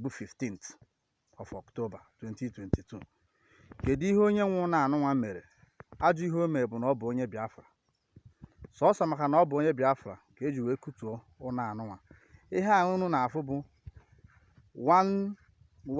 bụ 15th of October 2022 kedu ihe onye nwe ụlọ anụnwa mere ajọ ihe o mere bụ na ọ bụ onye Biafra sọsọ maka na ọ bụ onye Biafra ka eji wee kutuo ụlọ anụnwa ihe a unu na-afụ bụ one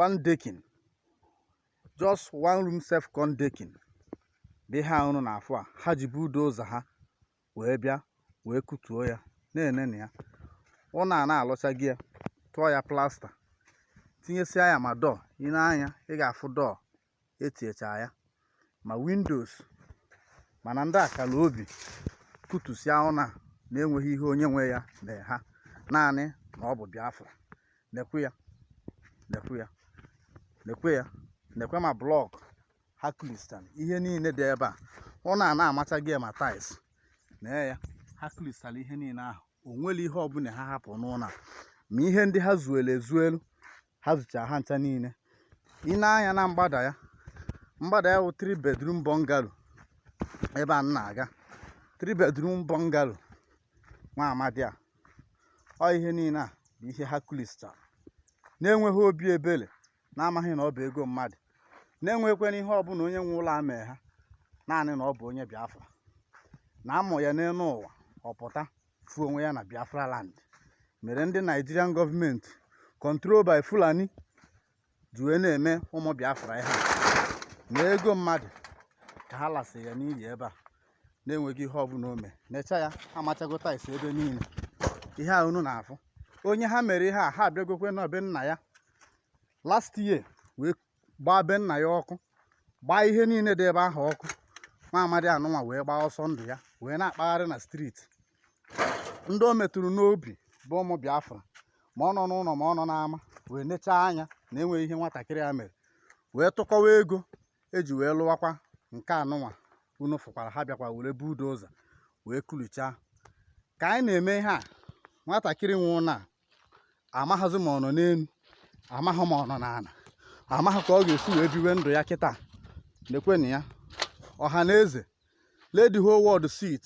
one decking just one room self con decking bụ ihe a unu na-afụ a ha ji bulldozer ha wee bịa wee kụtuo ya na-enenụ ya ụlọ a na alụchago ya tụọ ya plaster tinyesịa ya ma door i nee anya ị ga-afụ door etiecha ya ma windows mana ndị a kara obi kụtusịa ụlọ a na-enweghị ihe onye nwe ya mee ha naanị na ọ bụ Biafra nekwe ya nekwe ya nekwe ya nekwe ma block ha kụlisịa ihe niile dị ebe a ụlọ a na amachago ma tiles na ya ha kụlisịara ihe niile ahụ o nwere ihe ọbụla ha hapụ n'ụlọ ma ihe ndị ha zuelu ezuelu ha zucha ha ncha niile i nee anya na mgbada ya mgbada ya wụ 3 bedroom bungalow ebe a na-aga 3 bedroom bungalow nwa amadi a ọ ihe niile a bụ ihe ha kụlisịara na-enweghị obi ebere na-amaghị na ọ bụ ego mmadụ na-enweghịkwanụ ihe ọbụla onye nwe ụlọ a mee ha naanị na ọ bụ onye Biafra na a mụ ya n'elu ụwa ọ pụta fụ onwe ya na Biafra land mere ndị Nigerian government control by Fulani ji wee na-eme ụmụ Biafra ihe na ego mmadụ ka ha lasị ya n'iyi ebe a na-enweghị ihe ọbụla o mee necha ya amachago tiles ebe niile ihe a unu na-afụ onye ha mere ihe a ha abịagokwe na be nna ya last year wee gbaa be nna ya ọkụ gbaa ihe niile dị ebe ahụ ọkụ nwa amadi anụnwa wee gbaa ọsọ ndụ ya wee na-akpagharị na street ndị o metụrụ n'obi bụ ụmụ biafra ma ọ nọ n'ụlọ ma ọ nọ n'ama wee nechaa anya na enweghị ihe nwatakịrị a mere wee tụkọwa ego eji wee lụwakwa nke anụnwa unu fụkwara ha bịakwa were bulldozer wee kụlichaa ka anyị na-eme ihe a nwatakịrị nwe ụlọ a amaghịzi ma ọ nọ n'elu amaghị ma ọ nọ n'ala amaghị ka ọ ga-esi wee biwe ndụ ya kịta nekwenụ ya ọha na eze let the whole world see it